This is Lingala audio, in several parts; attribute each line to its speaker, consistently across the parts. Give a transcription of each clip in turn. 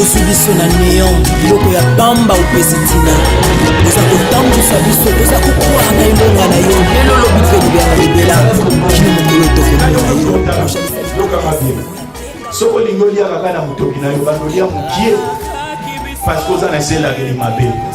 Speaker 1: ozwi biso na neon biloko ya pamba opesi ntina oza kotambusa biso toza kokwaa na elonga na yo lelo lobi mpe libela na libela kino mokolo tokomona yo soki olingi
Speaker 2: oliaka kaka na motoki na yo bando olia mokie parce que oza na eselakeli mabe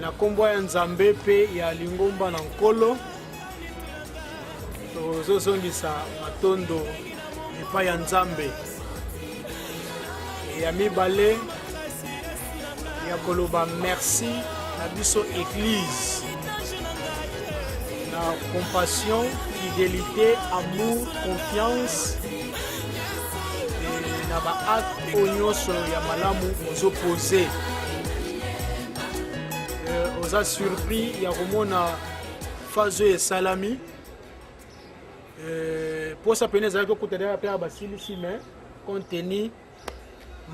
Speaker 3: Na nkombo ya Nzambe mpe ya Lingomba na Nkolo, tozozongisa matondo epai ya Nzambe ya mibale ya koloba merci na biso Eglise na compassion, fidelité, amour, confiance na baacte oyo nyonso ya malamu ozopoze euh, oza surpris ya komona phase oyo esalami euh, posa pene ezalaki okuta daka mpe basilisi mais compte tenu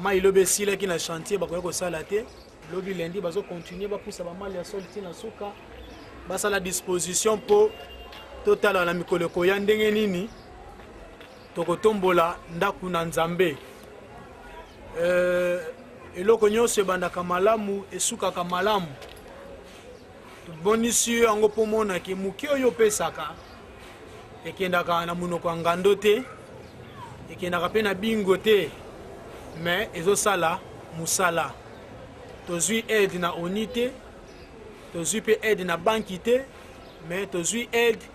Speaker 3: mai lobi esilaki na chantier bakoki kosala te lobi lendi bazokontinue bapusa bamali ya soli ti na suka basala disposition mpo totala na mikolo ekoya ndenge nini tokotombola ndako na nzambe euh, eloko nyonso ebandaka malamu esukaka malamu tobonisi yo yango mpo omonaki moke oyo opesaka ekendaka na monoko ya ngando te ekendaka mpe na bingo te me ezosala mosala tozwi aide na oni te tozwi mpe aide na banki te me tozwi aide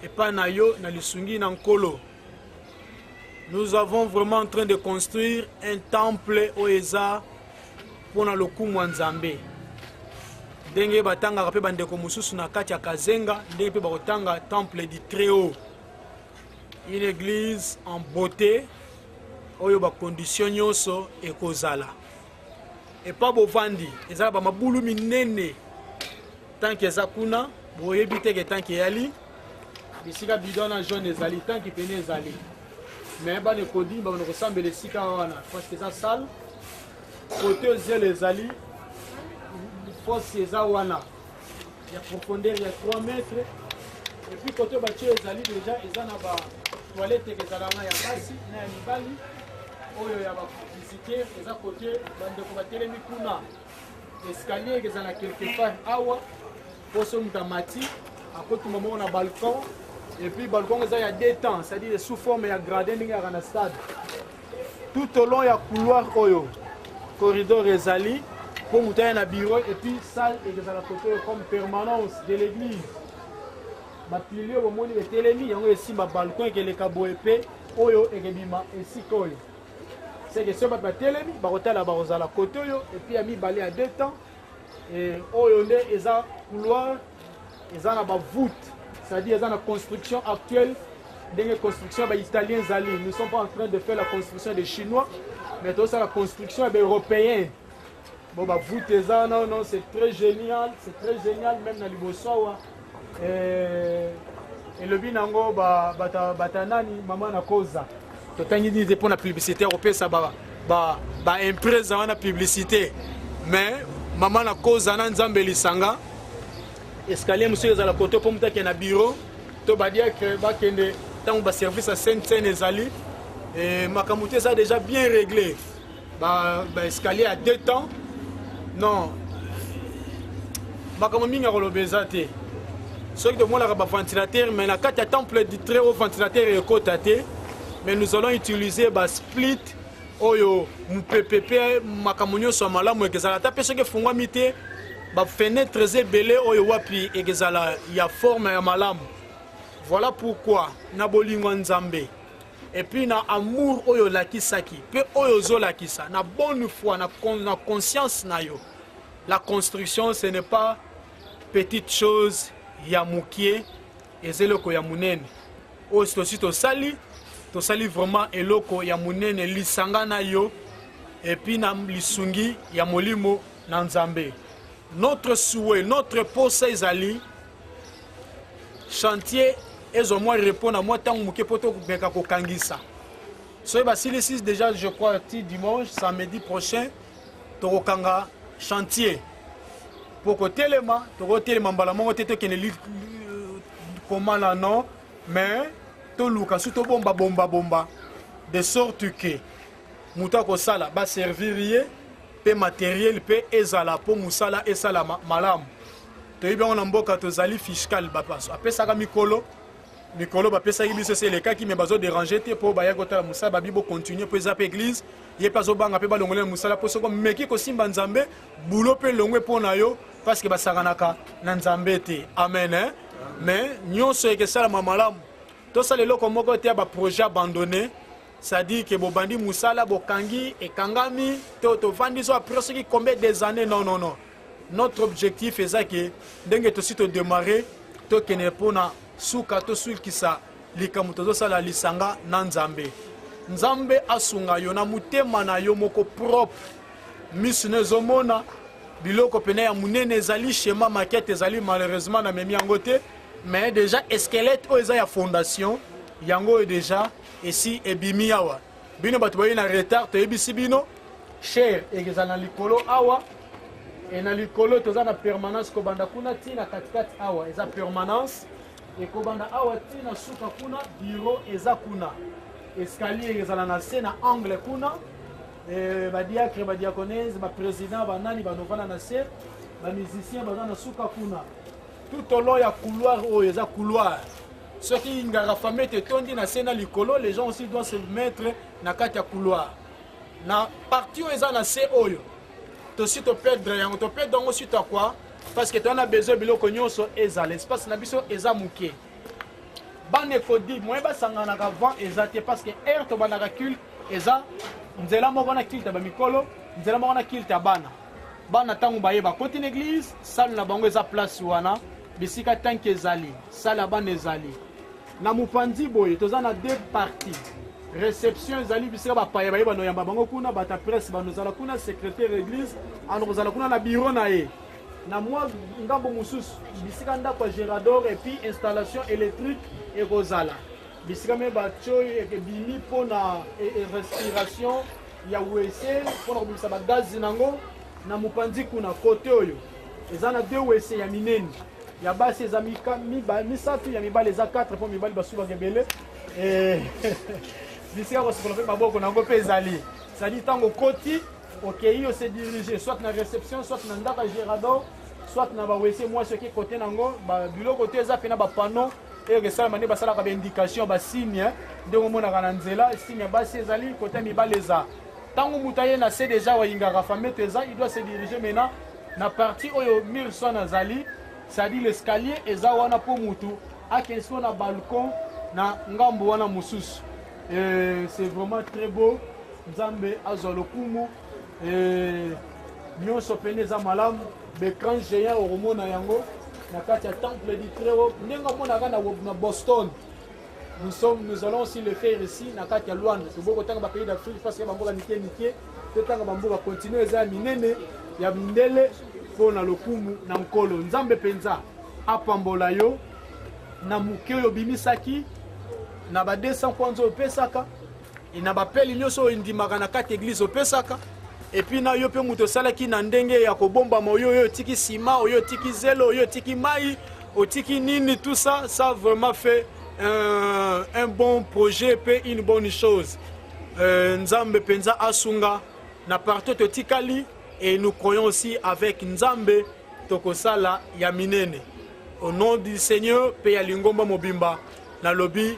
Speaker 3: epai na yo na lisungi na nkolo nous avons vraiment en train de construire un temple oyo eza mpo na lokumu ya nzambe ndenge batangaka mpe bandeko mosusu na kati ya kazenga ndenge mpe bakotanga temple du très haut une église en beauté oyo bakondition nyonso ekozala epa bovandi eza na bamabulu minene tanki eza kuna boyebi teke tanki eyali bisika bidon na jaune ezali tanki pene ezali me bana ekodi babanda kosambela esika wana parceke eza sale kote zelo ezali fosi eza wana ya profondeur ya 3 mètres epuis kote batie ezali deja eza na ba toilette ekezalaka ya basi na ya mibali oyo ya bavisiteur eza kote bandeko batelemi kuna escalier ekezala quelque part awa mpo soki moto amati akotuma moko na balcon epuis balcon eza ya deux temps c'est-à-dire sous forme ya gradin ndenge yaka na stade tout au long ya couloir oyo corridor ezali mpo moto aya na bureau epuis salle ekozala kote oyo comme permanence de l'église bapilio bomoni etelemi yango esimba balcon ekeleka boye mpe oyo ekebima esika oyo seke soki bato batelemi bakotala bakozala kote oyo epuis ya mibale ya deux temps Eh, oyo nde eza couloir eza na bavoute c'est-à-dire eza na construction actuelle ndenge construction ya baitalien ezali nous sommes pas en train de faire la construction des chinois mais tozosala construction ya baeuropéen bon bavoute eza non non c'est très génial c'est très génial même na liboso awa eh, elobi nango bata, bata nani mama na koza totangi nini te mpo na publicité ya kopesa baimprese ba, ba wana publicité mais mama na koza na nzambe lisanga escalier mosusu ezala koto mpo moto akende na bureau to badiacre bakende ntango baservice ya sene sene ezali eh, makambo te eza déjà bien réglé ba, ba escalier ya deux temps non makambo mingi ya koloba eza te soki tomonaka baventilateur mais na kati ya temple du très haut ventilateur ekota te mais nous allons utiliser basplit oyo mopepe mpe makambo nyonso ya malamu ekezala ata mpe soki efungwami te bafenetres ebele oyo wapi ekezala ya forme ya malamu voilà pourquoi na bolingo ya nzambe et puis na amour oyo olakisaki mpe oyo ozolakisa na bonne foi na, con, na conscience na yo la construction ce n'est pas petite chose ya mokie eza eloko ya monene oyo tosi tosali tosali vraiment eloko ya monene lisanga na yo epuis na lisungi ya molimo na nzambe notre souhait notre posa ezali chantier ezwa mwa repos na mwa ntango moke mpo tomeka kokangisa soki basilisi déjà je crois ti dimanche samedi prochain tokokanga chantier mpo kotelema tokotelema mbala moko te tokende komana non mais toluka su tobomba bomba bomba de sorte que moto akosala baservir ye mpe materiel mpe ezala mpo mosala esalama malamu toyebi yango na mboka tozali fiscal bapaso apesaka mikolo mikolo bapesaki biso esi elekaki me bazoderange te mpo bayaki kotala mosala babi bocontinue mpo eza mpe eglize ye mpe azobanga mpe balongoli na mosala mpo soko meki kosimba nzambe bulo mpe elongwe mpo na yo parceke basanganaka na nzambe te amen eh? me nyonso ekesalama malamu tosala eloko moko te ya baprojet abandonne c'est-à-dire que bobandi mosala bokangi ekangami to tovandi so apres soki combien des années non non non notre objectif eza ke ndenge tosi todemarre tokende mpo na suka tosulkisa likambo tozosala lisanga na nzambe nzambe asunga yo na motema na yo moko propre misu na ezomona biloko pene ya monene ezali shema makete ezali malheureusement na memi yango te mais déjà esquelette oyo eza ya fondation yango oyo déjà esi ebimi awa bino bato baye na retard toyebisi bino cher ekezala na likolo awa e na likolo toza na permanence kobanda kuna ti na katikati awa eza permanence ekobanda awa ti na suka kuna biro eza kuna escalier ezala na se na angle kuna e, badiacre badiaconese baprésident banani banovana na se bamusicien baza na suka kuna tout au long ya couloir oyo eza couloir soki ngara famete etondi na se na likolo les gens aussi doit se mettre na kati ya couloir na parti oyo eza na se oyo tosi toperdre yango toperdre yango suite ya quoi parce que toza na besoin biloko nyonso ezala espace na biso eza moke bana ekodi moye basanganaka vent eza te parce que aire tobandaka culte eza nzela moko na culte ya bamikolo nzela moko na culte ya bana bana ntango baye bakoti na église salle na bango eza place wana Bisika tanki ezali, sale ya bana ezali. Na mopanzi boye toza na deux parties. Reception ezali bisika bapaya baye banoyamba bango kuna, bata presse banozala kuna, secrétaire église anokozala kuna na bureau na ye na mwa ngambo mosusu bisika ndako ya gerador epuis installation électrique ekozala bisika me batio ebimi mpo na e, e, respiration ya wese mpo na kobimisa bagazi na yango na mopanzi kuna kote oyo eza na deux wese ya minene ya basi eza misato ya mibali eza 4 mpo mibali basubaka ebele eh, bisika kosokola mpe maboko na yango mpe ezali ezali ntango okoti okei ose dirige soit na réception soit na ndako ya gerador soit na bawese mwasi oke kote na yango biloko te eza mpe na bapano eke esalama nde basalaka baindication basigne ndenge omonaka na nzela signe ya basi ezali kote ya mibale eza ntango moto aye na se deja wayingaka famete eza il doit se dirige maintenant na parti oyo mirson azali cestadi l'escalier eza wana mpo motu akende siko na balcon na ngambo wana mosusu c'est vraiment très beau nzambe azwa lokumu Eh, nyonso pene eza malamu becran géant okomona yango na kati ya temple du très haut ndenge omonaka na boston nous sommes nous allons aussi le faire ici na kati ya luanda toboki kotanga bapays d'afrique mpasi ya bamboka mike mike totanga bamboka continue eza ya minene ya mindele mpo na lokumu na nkolo nzambe mpenza apambola yo na moke oyo obimisaki na ba 200 kwanza opesaka e na bapeli nyonso oyo endimaka na kati eglize opesaka epuis na yo mpe moto osalaki na ndenge ya kobombama oyo oyo otiki nsima oyo otiki zelo oyo otiki mai otiki nini tout ça ça vraiment fait un, un bon projet mpe une bonne chose euh, nzambe mpenza asunga na partout totikali et nous croyons aussi avec nzambe tokosala ya minene au nom du seigneur mpe ya lingomba mobimba nalobi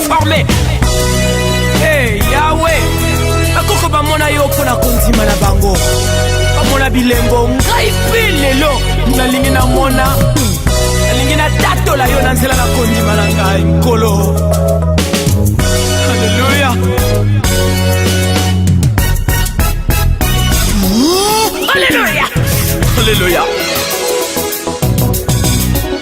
Speaker 1: forme hey, yawe bakoko bamona yo mpo na kondima na bango bamona bilembo ngai mpe lelo nalingi namona nalingi natatola yo na nzela na kondima na ngai nkolo aleluya aleluya aleluya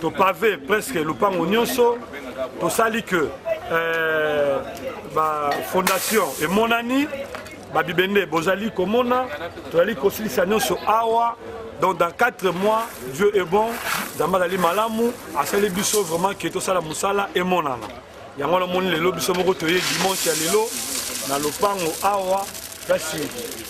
Speaker 4: topave presque lopango nyonso tosali que euh, bafondation emonani babibende bozali komona tozali kosilisa nyonso awa donc dans 4 mois dieu est bon nzambe azali malamu asali biso vraiment ke tosala mosala emonana yango wana omoni lelo biso moko toye dimanche ya lelo na lopango awa kasi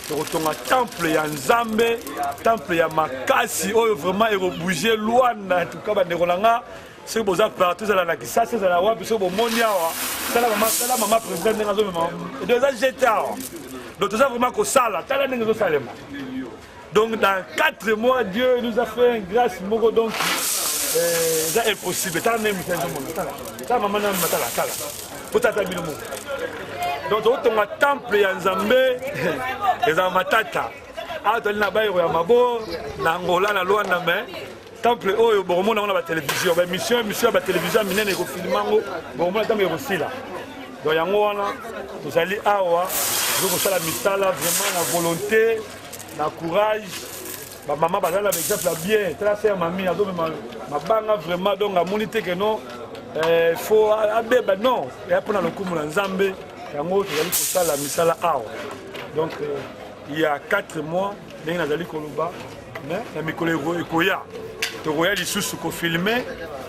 Speaker 4: tokotonga temple ya nzambe temple ya makasi oyo vraiment ekobouge lwana tuka bandeko na nga soki boza partout ezala na kisasa ezala wapi soki bomoni awa tala mama tala mama président ndenge azomema edo eza jete awa donc toza vraiment kosala tala ndenge ezosalema donc dans 4 mois dieu nous a fait un grâce moko donc euh, eza impossible tala nde mita ezomona tala tala mama na matala tala po tata bino moko donc tokotonga temple ya nzambe ezala matata awa toli na bayero ya mabo na angola na luanda mais temple oyo bokomona yango na batelevizio baémission émission ya batelevizio ya minene ekofilima yango bokomona ntango ekosila don yango wana tozali awa tozo kosala misala vraiment na volonté na courage bamama bazali na baexemple ya bien tala se ya mami azomema mabanga vraiment donc amoni te keno eh, fo abeba non eya mpo na lokumu na nzambe yango tozali kosala misala awa donc euh, il y a 4 mois ndenge nazali koloba Mais na mikolo ekoya tokoya lisusu kofilme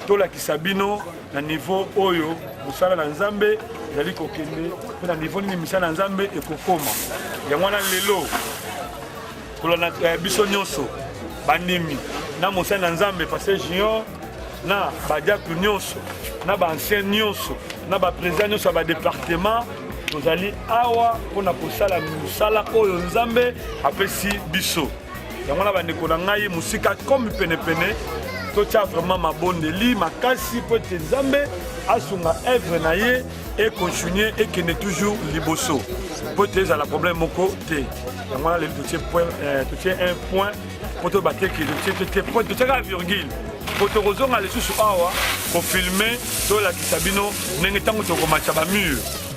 Speaker 4: tolakisa bino na niveau oyo mosala na nzambe ezali kokende mpe na niveau nini misala na nzambe ekokoma yango wana lelo kolanda eh, biso nyonso bandimi na mosali na nzambe paster junior na badiakle nyonso na baancien nyonso na baprésident nyonso ya badepartement tozali awa mpo na kosala mosala oyo nzambe apesi biso yango na bandeko na ngai mosika komi penepene totya vraiment mabondeli makasi mpo ete nzambe asunga evre na ye ekontinue ekende toujours liboso mpo ete ezala problème moko te yango wana lelo totie euh, un point mpo toyeba te ke totiaka virgule mpo tokozonga lisusu awa kofilme tolakisa bino ndenge ntango tokomatya bamure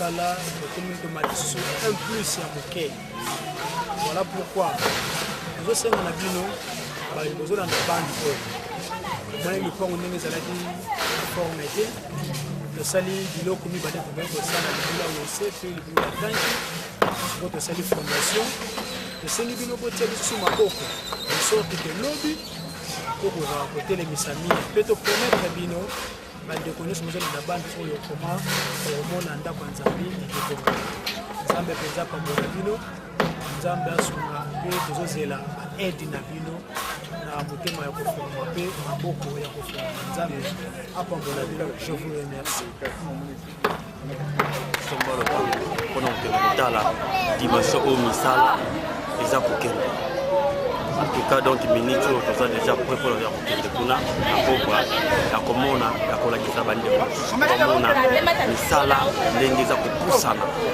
Speaker 3: mosala tokomi komatisa un plus ya moke voilà pourquoi tozosenga na bino bozolanda bande oyo omoni lopango ndenge ezalaki forme te tosali biloko mibale tokei kosala libula wose mpe libula batanki mpo tosali fondation tosengi bino botia lisusu maboko esorte ke lobi tokoka kotelemisa mingi mpe toprometre bino bandeko nyonso mozali na bande oyo koma komona ndako ya nzambe ekekoma nzambe mpenza apambola bino nzambe asunga mpe tozozela aide na bino na motema ya kofunga mpe maboko ya kofunga nzambe apambola bino je vous remercie
Speaker 5: sombolo mpona kokende kotala dimension oyo misala eza kokende en tout cas donc minute oyo toza déjà prêt mpo ya kokende kuna na kokwa ya komona ya kolakisa bandeko komona misala ndenge eza kopusana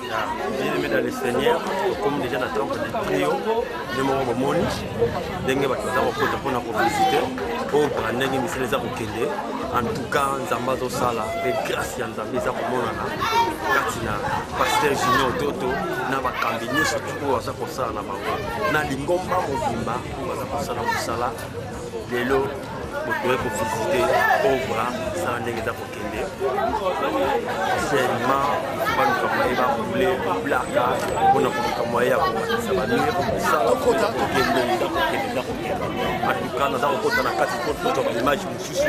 Speaker 5: bien-aimé dans le seigneur okomi déjà na temple de trio nde moko bomoni ndenge bato baza kokota mpo na kovisite obra ndenge misala eza kokende en tout cas nzambe azosala mpe grâce ya nzambe eza komonana kati na paster junior toto na bakambi nyonso oyo aza kosala na bango na lingomba mobimba oyo baza kosala mosala lelo bokoki kovisite obra sana ndenge eza kokende seulement baluka moye bakule bablaka mpona koluka moye ya komatisa bamire kosala kokende kokende eza kokenda atuka naza kokota na kati po tozwa baimage mosusu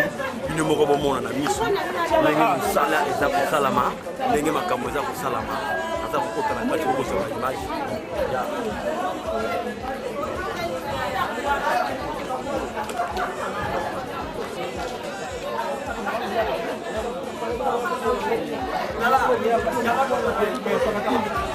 Speaker 5: bino moko bomona na miso ndenge mosala eza kosalama ndenge makambo eza kosalama aza kokota na kati kokosa ba image ya Thank
Speaker 6: you.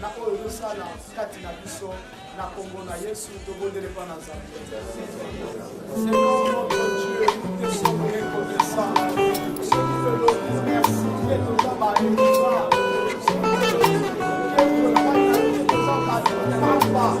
Speaker 3: na oyo tosala kati na biso na kombo na yesu tobondeli mpo na nzambe Thank you.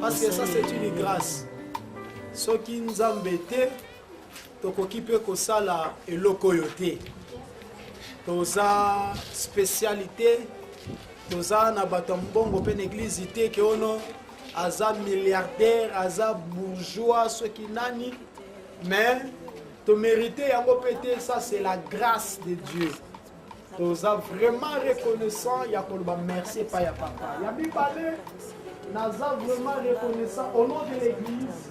Speaker 3: parce que ça c'est une grâce soki nzambe te tokoki mpe kosala eloko oyo te toza spécialité toza na bato ya mbongo mpe na eglize te ke ono aza milliardaire aza bourgeois soki nani mais tomérite yango mpe te ça c'est la grâce de dieu toza vraiment reconnaissant ya koloba merci epai ya papa ya mibale naza vraiment reconnaissant au nom de l'église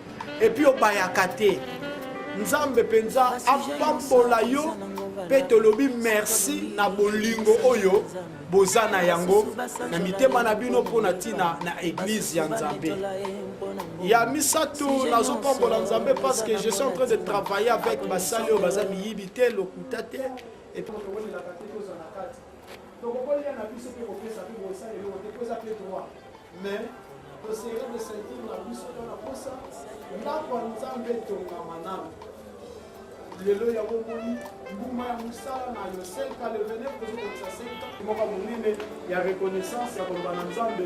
Speaker 3: epuis obayaka te nzambe mpenza apambola yo mpe tolobi merci na bolingo oyo boza na yango na mitema na bino mpo na ntina na eglize ya nzambe ya misato nazopambola nzambe parce que je suis en train de travailler avec basali oyo baza miyibi te lokuta te Donc kolia na biso mpe kopesa mpe kosala eloko te mpo eza mpe droit mais tosengeli kosentir na biso to na posa ndako ya nzambe etongama nano lelo ya bomoni mbuma ya mosala na yo senka le 29 tozokokisa senka moko monene ya reconnaissance ya koloba na nzambe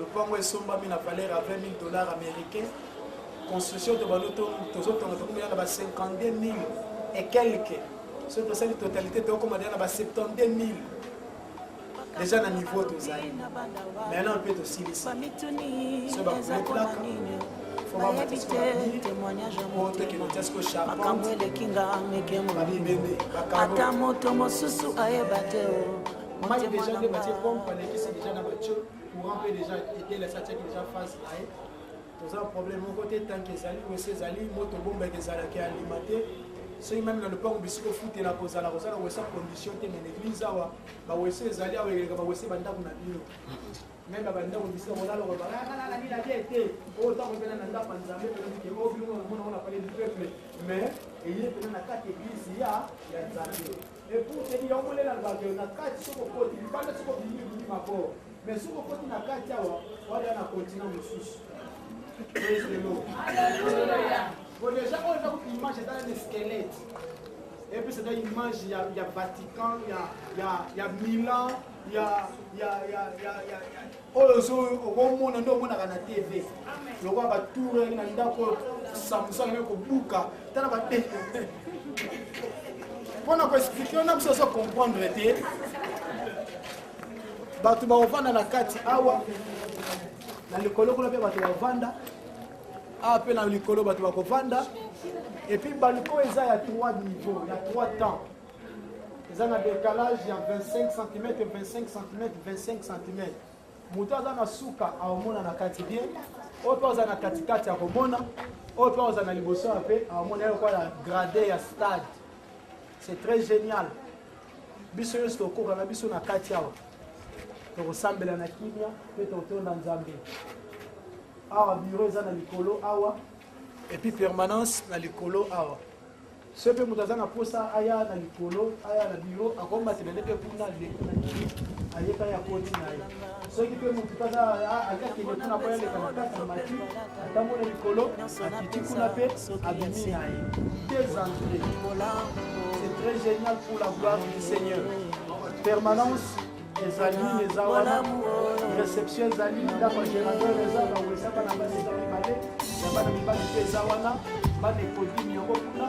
Speaker 3: lopango esombami na valeur ya 20 000 dollars américain construction to bando tozotonga tokomela na ba 52 000 et quelque soki tosali totalité tokoma deja na ba 72 000 deja na niveau tozali maintenant mpe tosilisi so bakolekolaka makambo
Speaker 1: eleki nga meke mobimbi ata moto mosusu ayeba te o oh.
Speaker 3: motema na nga courant mpe déjà etelesi atiaki déjà phase na ye toza problème moko te tanke ezali wese ezali moto bombeke ezalaki alima te soki meme na lopango bisika ofutela kozala kozala wese condition te mais l'église awa bawese ezali awa eleka bawese bandako na bino meme bandako bisika kolaloko balalalila te te oyo ntango mpena na ndako ya nzambe mpeleke o bino omona ona pale du peuple mais eye mpena na kati église ya ya nzambe Epuseli ya ombo lela lobaka yo na kati soki okoti libanda soki obimi obimi mabor mais soki okoti na kati awa waya na kontina mosusu ezelo po deja oyo eza kutu image eza na squelette epuis eza image ya, ya vatican ya, ya, ya milan ya, ya, ya, ya, ya, ya oyo ozo okomona nde omonaka na tv lokola batour na ndako oyo samusaka nde kobuka ta na bate mpo na koexplike na biso ozo comprendre te bato bakovanda na kati awa na likolo kuna mpe bato bavanda awa mpe na likolo bato bakovanda epuis balcon eza ya 3 niveau ya 3 temps eza na decalage ya 25 cm 25 cm 25 cm moto aza na suka aomona na kati bien oyo mpe aza na katikati akomona oyo mpe aza na liboso ya mpe aomona yoko ya grade ya stade c'est très génial biso nyonso tokoka na biso na kati awa tokosambela na kimia mpe totonda nzambe awa biro eza na likolo awa epuis permanence na likolo awa soki mpe moto aza na mposa aya na likolo aya na biro akomatela nde mpe kuna aleki na nini ayeka ya koti na ye soki mpe moto mpe aza akende kuna mpo yaleka na kati na mati atambo na likolo akiti kuna mpe abimi na ye des entrées c'est très génial pour la gloire du seigneur permanence ezali eza wana reception ezali ndako ya gérateur eza bawesa bana basi eza mibale ya bana mibali mpe eza wana bana ekodimi yango kuna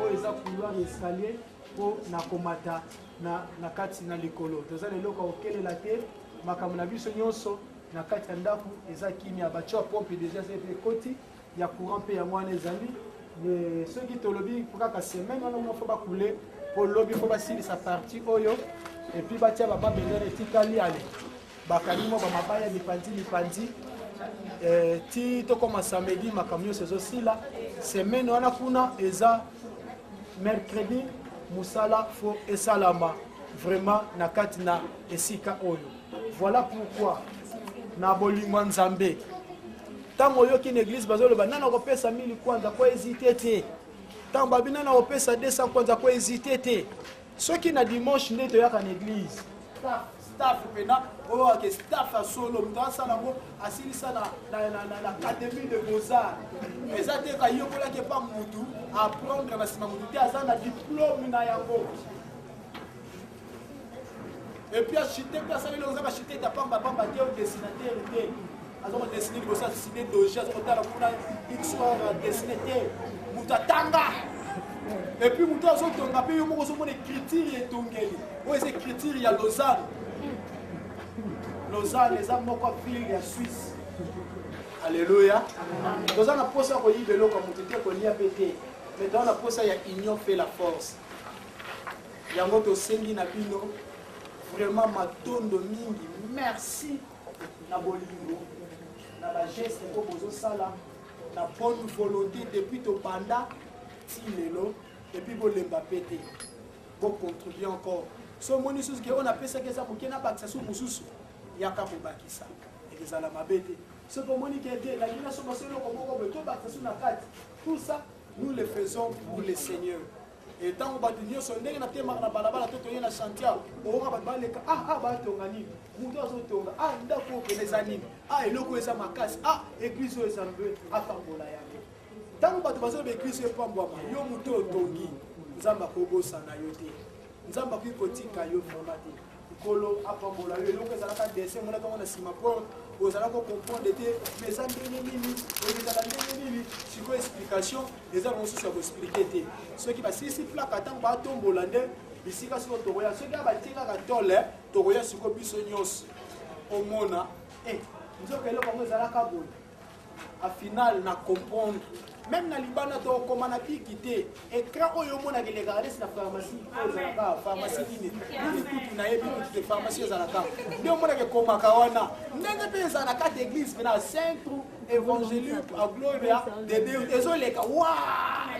Speaker 3: oyo eza couloir ya escalier mpo na komata na, na kati na likolo toza na eloko ya kokelela te makambo na biso nyonso na kati ya ndako eza kimia batio ya pompe deja eza ete ekoti ya courant mpe yango wana ezali soki tolobi kaka semaine wana moko fo bakule mpo lobi fo basilisa parti oyo epuis batya bamabendele etikali ale bakangi mwa bamabaya mipanzi mipanzi eh, ti tokoma samedi makambo nyonso ezosila semaine wana kuna eza mercredi mosala fo esalama vraiment na kati na esika oyo voilà pourquoi na bolingo ya nzambe Tango oyoki na eglise bazo loba nana ko pesa 1000 kwanza ko hésiter te. Tango babi nana ko pesa 200 kwanza ko hésiter te. Soki na dimanche nde toyaka na eglise. Staff, staff pena oyo ake staff ya solo moto asala yango asilisa na académie de beaux-arts eza te kayokolaki epa motu aprendre na nsima motu te aza na diplome na yango epuis achite mpe asaleli oza bachite ta pamba pamba te odesinatere te aza kodesine liboso asine doge aza kotala kuna xor adesine te moto atanga epuis moto azotonga mpe yo moko ozomona ekritire etongeli oyo eza ekritire ya lausanne lausanne eza moko ville ya suisse alleluya toza na mposa ya koyiba eloko ya moto te kolia mpe te mais toza na mposa ya union fait la force Yango tosengi na bino vraiment matondo mingi, merci na bolingo na ba geste oyo bozosala na bonne volonté depuis tobanda ti lelo epuis bolemba mpe te bocontribue encore so omoni susu ke oyo napesaki eza moke nabakisa su mosusu yaka kobakisa ekozala mabe te soki omoni ke te elangi na soba so eloko moko boye tobakisa su na kati tout ça nous le faisons pour le seigneur e ntango bato nyonso ndenge natemaka na balabala to toye na chantier oyoka bato baleka ah ah batonga nini moto azotonga ah ndako oyo pene eza nini ah eloko oyo eza makasi ah eglise oyo eza mbe apambola yango ntango bato bazoloba eglise oyo epambwama yo moto otongi nzambe akobosana yo te nzambe akoki kotika yo vraimen te nkolo apambola yo eloko ezalaka dessin emonaka yango na nsima porte ozala kocomprendre te ma eza ndenge nini ezala ndenge nini sikoyo explication eza na mosusu ya koexplike te soki basilisi plaka ntango batombola nde bisika sikoyo tokoya soki abatie kaka tole tokoya sikoyo biso nyonso omona eh, nzoka eloko yango ezalaka boye a final na comprendre meme na libanda tokokoma na biki te écran oyo omonaka elekaka nesi na pharmacie oyo ezalaka pharmacie nini nini kutu nayebi kutu te pharmacie ezalaka nde omonaka ekomaka wana ndenge mpe ezala na kati église mpe na centre évangélique a gloria de deus ezoleka wa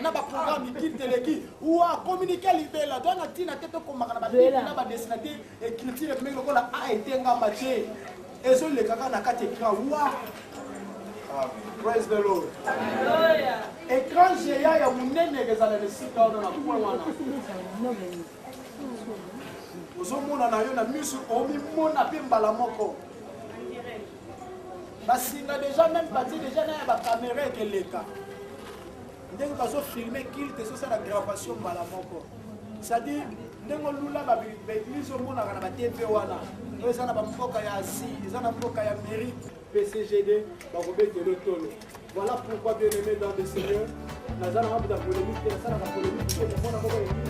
Speaker 3: na baprogramme mikili teleki wa communiqué libela to na ntina te tokomaka na babiki na badesinateur écriture epemeki lokola a etengama te ezo leka kaka na kati ecran wa praise the lord ecran géant ya monene ekezala na esika wana na point wana ozomona na yo na miso omimona mpe mbala moko basinga deja meme bati deja na ya bakamera ekeleka ndenge bazo filme kilte ezosala gravation mbala moko cestadire ndenge olula baeglise omonaka na batv wana oyo eza na bamboka ya asie eza na mboka ya mérite pcgd bakobetela otolo voilà pourquoi bien aimé dans le seigneur naza na mabuta polémique te nasalaka polémique te namona moko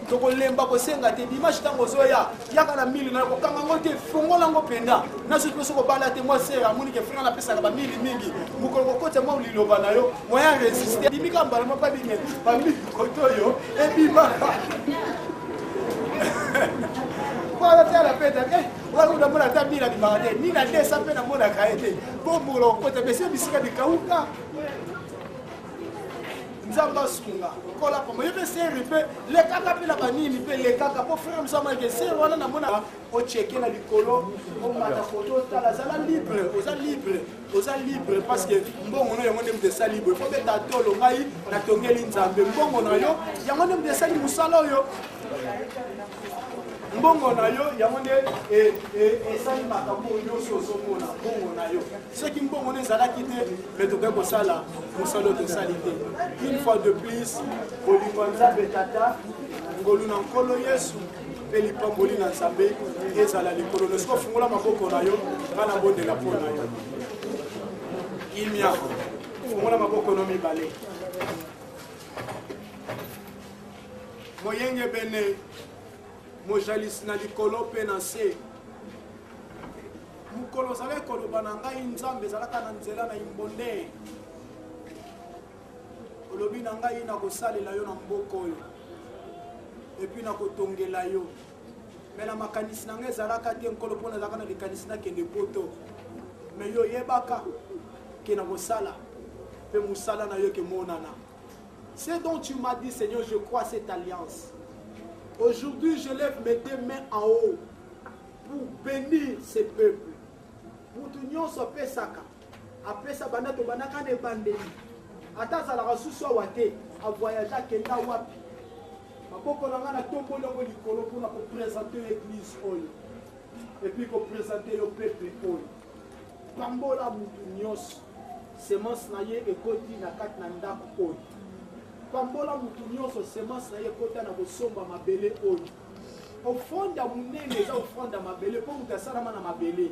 Speaker 3: tokolemba kosenga te dimanche ntango ozoya yaka na mili nayo kokanga yango te fongola yango mpenza na soki mpe soki obala te mwa sere amoni ke frere napesaka bamili mingi mokolo kokotya mwa liloba na yo moyen resiste bimika mbala moko abime bamili koto oyo ebimaka wana te ala peta te wana namona ata mili abimaka te nini adesa mpe namonaka ye te mpo mokolo kokotya bese bisika bikauka nzambe asunga kola pamba yo mpe seri mpe lekaka mpe na banini mpe lekaka mpo frere mosamayeke seri wana namona ocheke na likolo omata foto otala zala libre oza libre oza libre parce que mbongo na yango nde moto esali boye fo beta tolo ngai natongeli nzambe mbongo na yo yango nde moto esali mosala oyo mbongo na yo yango nde e, e, esali makambo nyonso ozomona mbongo na yo soki mbongo no ezalaki te me tokoki kosala mosala oyo tosali te une fois de plus bolingo ya nzambe tata ngolu na nkolo yesu mpe lipamboli na nzambe ezala likolo no soki ofungola maboko na yo ngai nabondela mpo na yo kimia fungola maboko no mibale moyengebene mojalisi na likolo mpe na nse Mokolo ozalaki koloba na ngai, Nzambe ezalaka na nzela na imbonde. Olobi na ngai, nakosalela yo na mboka oyo, epuis nakotongela yo. Me na makanisi na ngai ezalaka te nkolo, mpo nazalaka na likanisi nakende poto. Me yo oyebaka ke nakosala, mpe mosala na yo ekemonana. Ce dont tu m'as dit, Seigneur, je crois cette alliance. Aujourd'hui, je lève mes deux mains en haut. pour benir ce peuple mutu nyonso apesaka apesa banda tobandaka na ebandeli ata azalaka susu awa te avoyage akenda wapi maboko na ngai natomboli yango likolo mpona kopresente yo eglise oyo epuis kopresente yo pepe oyo pambola motu nyonso semence na ye ekoti na kati na ndako oyo pambola motu nyonso semence na ye ekota na kosomba mabele oyo ofrande ya monene eza ofrande ya mabele mpo moto asalama na mabele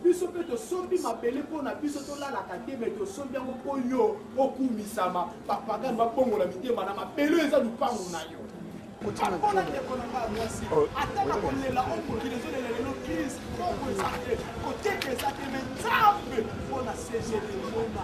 Speaker 3: biso mpe tosombi mabele mpo na biso tolalaka te me tosombi yango mpo yo okumisama bapagani babongola mitema na mabele oyo eza lupango na yo akola ndeko na ngai mwasi oh, ata na kolela oyo mokili ezolela lelo crise kongo eza te koteka eza te me nzambe mpo na cgd mona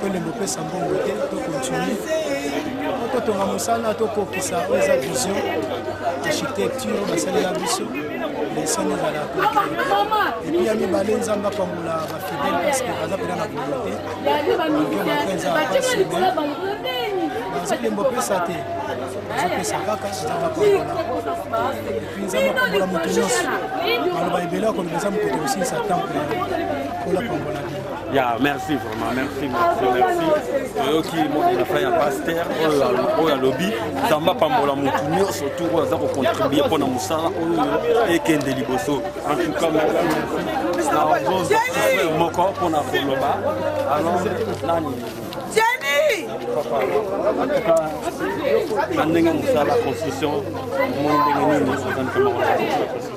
Speaker 3: tolembo pesa mbongo te tokontinue totonga mosala tokokisa oyo eza vision architecture basalela biso leseni ezala epuis ya mibale nzambe apambola bafidele parceke baza mpena na volonte mpenza bazolembo pesa te azopesa kaka nzambe apambola epuis nzambe apambola moto nyonso maloba ebele akoloba eza mokoto kosilisa temple ola pambola ya merci
Speaker 5: vraiment merci merci merci toyoki moni na fin ya paster oyo alobi nzambe apambola motu nyonso tour oyo aza kocontribue mpo na mosala oyo ekende liboso en tout cas merci moko mpo na koloba alors nani na ndenge mosala constitution mo ndenge nini ozandikamaka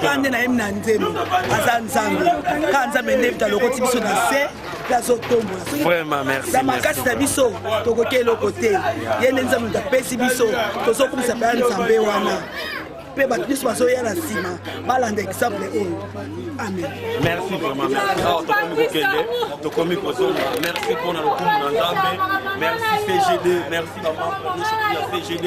Speaker 5: kaka nde nayemi na nzembo aza nzambe kaka nzambe nde talokoti biso na se mpe azotombolana makasi na biso tokoki eloko te ye nde nzambe moto apesi biso tozokumisa mpe ya nzambe wana mpe bato nyonso bazoya na nsima balanda exemple oyo amen merci vraiment merci awa tokomi kokende tokomi kozonga merci mpo na lokumu na nzambe merci cgd merci bamambre nyonso ya cgd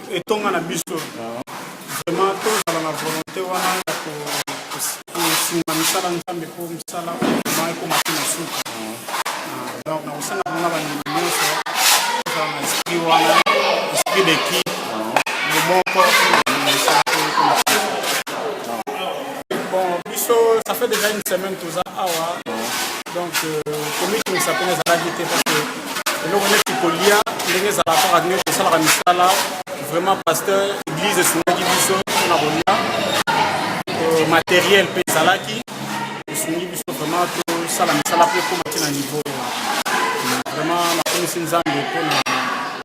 Speaker 3: etonga na biso vraiment tozala na volonté wana ya kosunga misala nzambe mpo misala ma ekoma te na suka ah, donc nakosenga mpona bandimi nyonso tozala na esprit wana esprit d'équipe bomoko misala mpo ekoma bon biso ça fait déjà une semaine toza awa donc euh, komitunisa mpena ezalaki te parce que eloko neti kolia ndenge ezalaka kaka ndenge kosalaka misala vraiment pasteur église esungaki biso mpona kolia euh, matériel mpe ezalaki esungi biso vraiment tosala misala mpe ekoma ti na niveau vraiment nakomisi nzambe mpona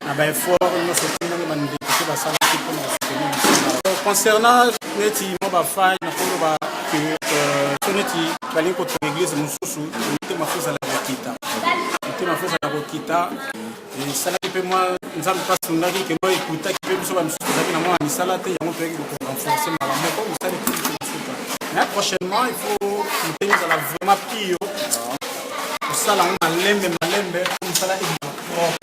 Speaker 3: na baeffort nyonso ti ndenge bandeko mpe basalaki mpona kosoutenir misala concernant neti mwa bafai nakoloba ke euh, so neti balingi kotonga eglise mosusu motema fo ezala kokita motema fo ezala kokita esalaki mpe mwa nzambe mpe asundaki kelo ekutaki mpe biso bamisusu tozalaki na mwana misala te yango toyaki korenforce mbala moko mosali kosuka mais prochainement il faut motema ezala vraiment pio kosala yango malembe malembe mpo mosala ebima propre